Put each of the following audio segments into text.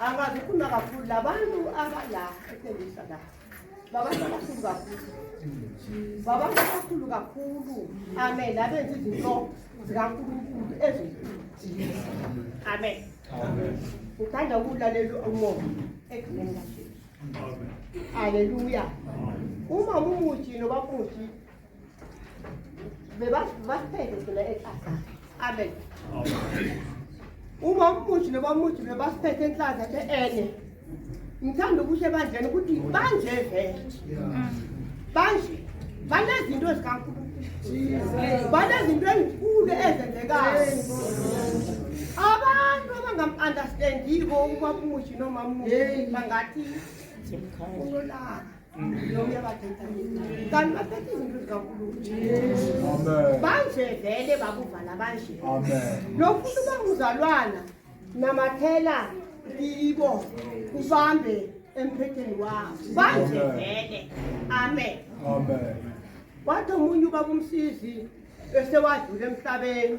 abazikhuluma kakhulu labantu abala etendisa la babantu abakhulu kakhulu babantu abakhulu kakhulu amen abenza izinto zikankulunkulu ezinkulu amen ngithanda ukulalela umoya ekugcineni kajesu aleluya uma mumuthi noba muthi bebapheke thina eklasa amen uma umuthi nobamuthi bebasiphethe enhlaza the enye ngithanda ukusho ebandleni ukuthi banje vele banje banezinto ezikankulunkulu banezinto ezinkulu ezenzekayo abantu abangam-understandiko ubamushi nomamushi bangathi unolaka kanti baphethe izinto zikankulunkulu banje vele bakuvala banje nofuna uba nguzalwana namathela kibo ubambe emphetheni wakho banje vele amen wathi omunye uba kumsizi esewadlula emhlabeni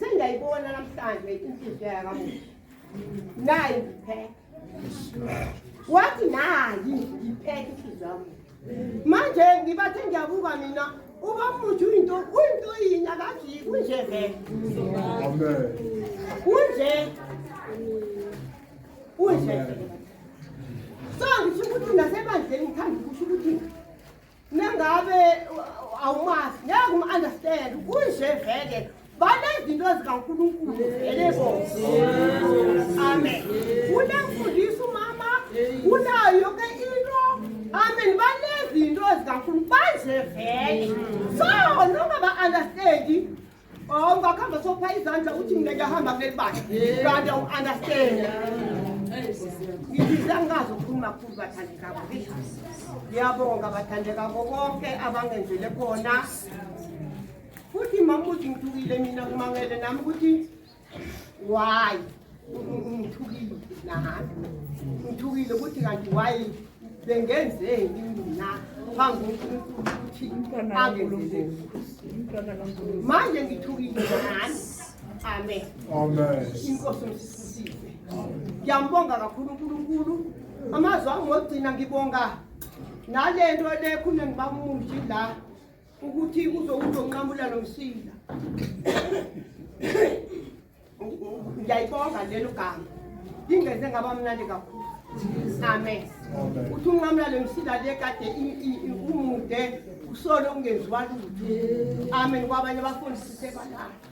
Sengiyayibona namhlanje inhliziyo yakamuva. Nayi ngipheke. Wathi nayi ngipheke inhliziyo yami. Manje ngibathe ngiyabuka mina uba futhi uyinto uyinto yini akajiki kunje vele. Amen. Kunje. Kunje. So ngisho ukuthi nasebandleni ngithanda ukusho ukuthi Nangabe awumazi ngeke umu-understand kunje vele banezinto zikaNkulunkulu vele bo amen unemfundisa umama unayo yonke into amen banezinto zikaNkulunkulu banje vele so noma ba-understandi Oh, ungakhamba sopha izandla uthi mina ngiyahamba kuleli bakhe. Kanti u understand. Ngibiza ngazi ukukhuluma kakhulu bathandi kabo. Ngiyabonga bathandi kabo konke abangenzele kona. Futhi mama uthi ngithukile mina kumangele nami ukuthi why ngithukile nahambe ngithukile ukuthi kanti why bengenzeni mina phambi konkulunkulu ukuthi angenzele manje ngithukile nani amen inkosi msisisize ngiyambonga kakhulu unkulunkulu amazwi angogcina ngibonga nale nto le khune ngibamuji la ukuthi uzonqamula lo msila ngiyayibonga lelo gama ingeze ngaba mnandi kakhulu amen uthi unqamula le msila le kade umude usolo ungenziwa lutho amen kwabanye abafundisi sebalala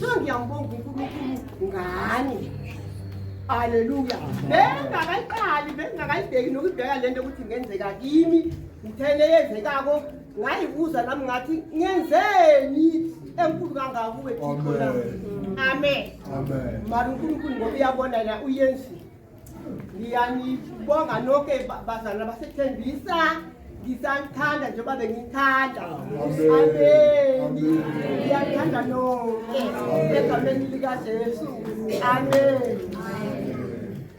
so ngiyambonga unkulunkulu ngani aleluya bengakayiqali bengakayibheki nokubheka le nto ukuthi ngenzeka kimi ngithele yenzekako ngayibuza nami ngathi ngenzeni enkulu kangakuwe thixo na amen mara unkulunkulu ngoba uyabona na uyenzile ngiyanibonga noke bazalwa basethembisa ngisanithanda njengoba bengithanda ameni ngiyathanda noke egameni likajesu ameni